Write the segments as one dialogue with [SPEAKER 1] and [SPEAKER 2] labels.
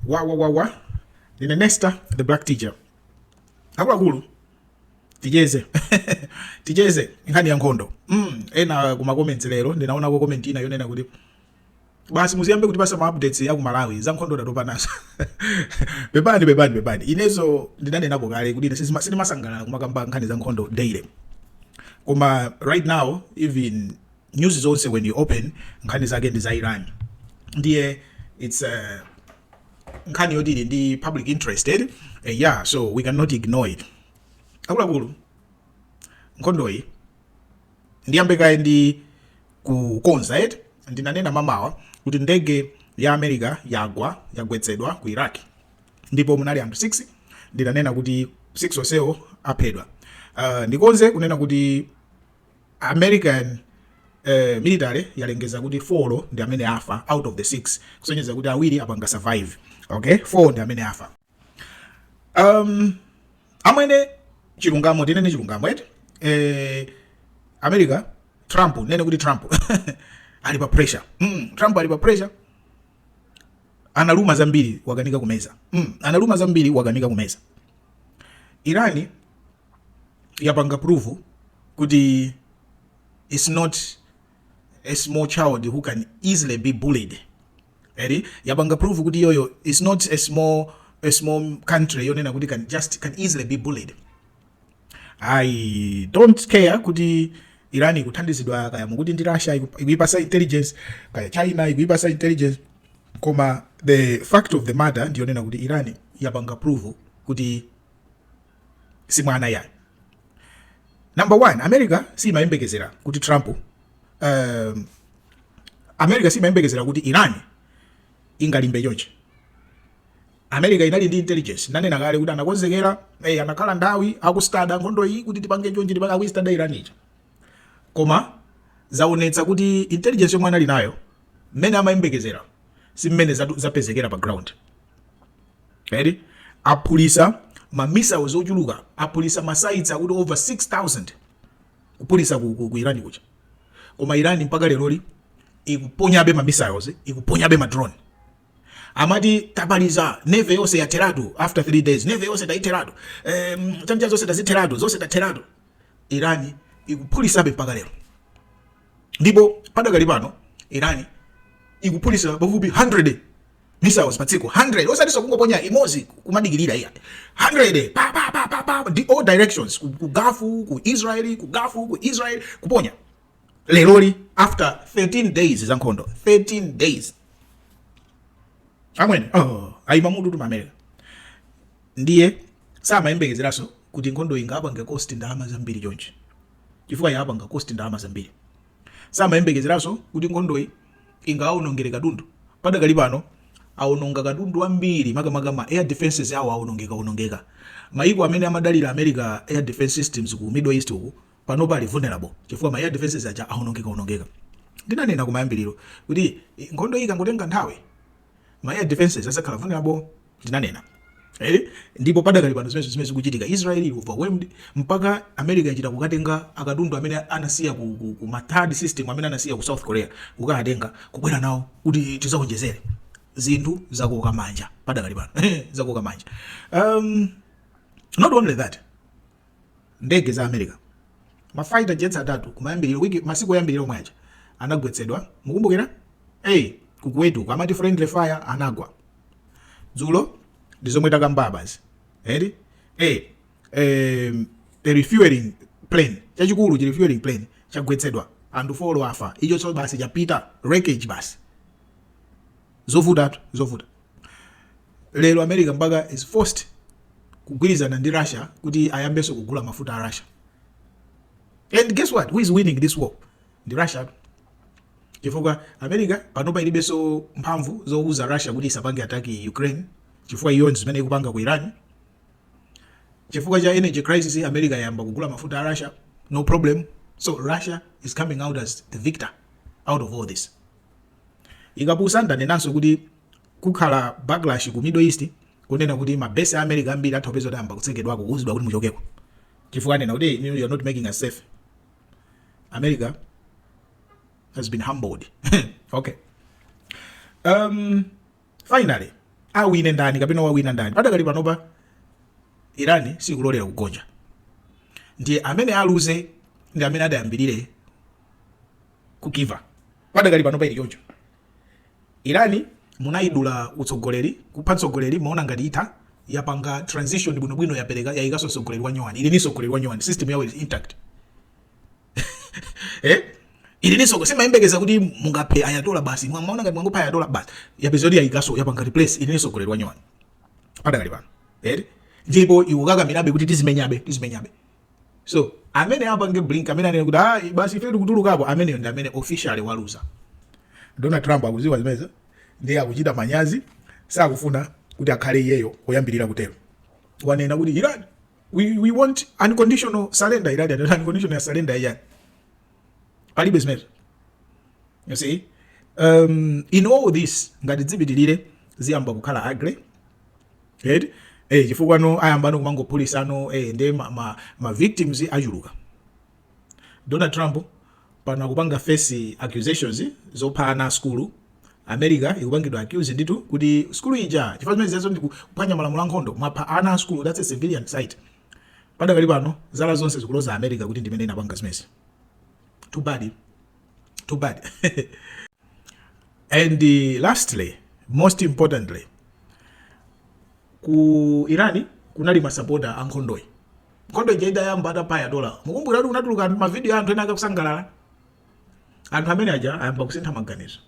[SPEAKER 1] wawawawa ndine nesta the black teacher akuluakulu ticheze ticheze nkhani ya nkhondo mm, ena kumakomenti lero ndinaonako komenti ina yonena kuti basi muziyambe kuti pasa maupdates aku malawi za nkhondo ndatopa nazo pepani pepani pepani inenso ndinanenako kale kuti ine sizima- sindimasangalala kumakamba nkhani za nkhondo daily koma right now even news zonse when you open nkhani zake ndi za Iran ndiye it's uh, nkhani yoti ili ndi public interest eh? eh, yeah so we cannot ignore it akuluakulu nkhondoyi ndiyambe kaye ndi kukonza eti ndinanena mmamawa kuti ndege ya america yagwa yagwetsedwa ku iraq ndipo munali anthu 6 ndinanena kuti 6 onsewo aphedwa uh, ndikonze kunena kuti American military yalengeza kuti 4 ndi amene afa out of the 6 kusonyeza kuti awiri apanga survive okay 4 ndi amene afa um amwene chilungamo tinene chilungamo eti eh America Trump ndinene kuti Trump ali pa pressure mm, Trump ali pa pressure analuma zambiri wakanika kumeza mm, analuma zambiri wakanika kumeza iran yapanga prove kuti it's not a small child who can easily be bullied eri yapanga prove kuti iyoyo it's not a small, a small country yonena kuti can just can easily be bullied I don't care kuti iran ikuthandizidwa kaya mukuti ndi russia iku- ikuyipasa intelligence kaya china ikuyipasa intelligence koma the fact of the matter ndiyonena kuti iran yapanga prove kuti si mwana yayi number one america siyimayembekezera kuti trump um, america siyimayembekezera kuti iran ingalimbe chonchi America inali ndi intelligence ndinanena kale kuti anakonzekera eh anakhala nthawi aku study nkhondo iyi kuti tipange chonchi tipange aku study Iran ija koma zaonetsa kuti intelligence yomwe anali nayo mmene amayembekezera si mmene zapezekera pa ground already aphulisa ma missiles ochuluka aphulisa ma sites akuti over 6000 kuphulisa ku, ku, ku Iran kuja koma Iran mpaka lero ikuponyabe ma missiles ikuponyabe ma drone amati tamaliza navy yonse yatheratu after 3 days navy yonse tayitheratu um, launcher zonse tazitheratu zonse tatheratu iran ikuphulisabe mpaka lero ndipo padakali pano iran ikuphulisa pafupi 100 missiles patsiku 100 osatinso kungoponya imodzi kumadikirira iyayi 100 pa pa pa pa pa the all directions ku, ku gulf ku israel ku gulf ku israel kuponya leroli after 13 days za nkhondo 13 days amwene oh, aima mitutu America ndiye samayembekezeranso kuti nkhondo ingapange cost ndalama zambiri chonchi chifukwa yapanga cost ndalama zambiri samayembekezeranso kuti nkhondoyi ingawonongere katundu padakali pano awononga katundu wambiri makamaka ma air defenses awo awonongeka onongeka mayiko amene amadalira america air defense systems ku middle east uku panopa ali vulnerable chifukwa ma air defenses aja aonongeka onongeka. Ndinanena kumayambiriro kuti eh, nkhondo iyi ikangotenga nthawi ma air defenses adzakhala vulnerable, ndinanena eh? Ndipo padakali pano ndi zimene zikuchitika, Israel ili overwhelmed mpaka America yachita kukatenga akatundu amene anasiya ku, ku, ku ma THAAD system amene anasiya ku South Korea kukawatenga kubwera nawo kuti tizaonjezere zinthu zakoka manja padakali pano zakoka manja um, not only that Ndege za America, ma fighter jets atatu kumayambiliro, week, masiku oyambilira omwe aja anagwetsedwa, mukumbukira? Hey, ku Kuwait uko amati friendly fire anagwa dzulo, ndi zomwe takamba apazi, the eh, eh, the refueling plane chachikulu chi refueling plane chagwetsedwa, anthu four afa, icho so basi chapita wreckage basi. zovutatu zovuta lero america mpaka is forced kugwirizana ndi russia kuti ayambenso kugula mafuta a russia and guess what who is winning this war ndi russia chifukwa america panopa ilibenso mphamvu zouza russia kuti isapange attack ukraine chifukwa iyo ndi zimene ikupanga ku iran chifukwa cha energy crisis america yayamba kugula mafuta a russia no problem so russia is coming out as the victor out of all this Ikapusa ndanenanso kuti kukhala backlash ku Middle East kunena kuti ma base a America ambiri atha kupeza tayamba kutsekedwako kuuzidwa kuti muchokeko chifukwa kunena kuti you are not making us safe America has been humbled okay um finally awine ndani kapena wawina ndani padakali panopa Iran sikulolera kugonja ndiye amene aluze ndi amene atayambirire ku give up padakali panopa ili choncho irani munayidula utsogoleri kupha mtsogoleri mumaona ngati itha yapanga transition bwinobwino yapereka yayikanso mtsogoleri wa nyowani ili ndi mtsogoleri wa nyowani system yawo is intact eh Iran so osamayembekeza kuti mungaphe Ayatollah basi mumaona ngati mwangopha Ayatollah basi yapeza kuti yayikanso yapanga replace ili ndi mtsogoleri wa nyowani padakali pano eti eh? ndipo ikukakamirabe kuti tizimenyabe tizimenyabe So amene apange blink amene anene kuti ah basi ife tikutulukapo ameneyo ndi amene officially waluza. Donald Trump akuziwa zimenezo ndiye akuchita manyazi sakufuna kuti akhale iyeyo oyambirira kutero. Wanena kuti Iran we, we want unconditional surrender Iran and unconditional surrender Iran. Palibe zimenezo. You see? Um, in all this ngati dzipitirire ziyamba kukhala agre eti eh chifukwa ano ayambano kumangophulisa ano eh nde ma, ma, ma victims achuluka Donald Trump pano akupanga face accusations zopha ana a skulu America ikupangidwa accuse nditu kuti skulu ija chifukwa zimene zijazo ndi kuphwanya malamulo a nkhondo mwapha ana a skulu that's a civilian site padakali pano zala zonse zikuloza America kuti ndimene inapanga zimezi too bad Too bad. and uh, lastly, most importantly, ku Irani kunali masapota a nkhondoyi. Nkhondo ija idayamba atapha Ayatollah. Mukumbukira kuti kunatuluka mavidiyo a anthu ena akusangalala. Anthu amene aja ayamba kusintha maganizo.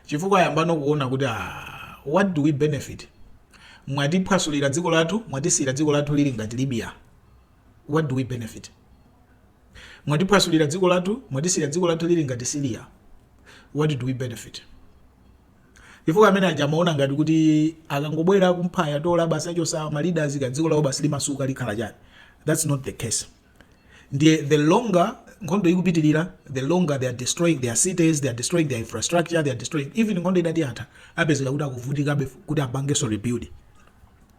[SPEAKER 1] Chifukwa ayambano kuona kuti ah, what do we benefit? Mwatiphwasulira dziko lathu, mwatisiyira dziko lathu lili ngati Libya. What do we benefit? Mwatiphwasulira dziko lathu, mwatisiya dziko lathu lili ngati Syria, what do we benefit? Chifukwa amene aja amaona ngati kuti akangobwera kumpha Ayatollah basi achosa ma leaders ka dziko lawo basi limasuka likhala chani. That's not the case. Ndiye the longer nkhondo ikupitirira the longer they are destroying their cities, they are destroying their infrastructure, they are destroying even nkhondo itati yatha apezeka kuti akuvutikabe kuti apangenso rebuild.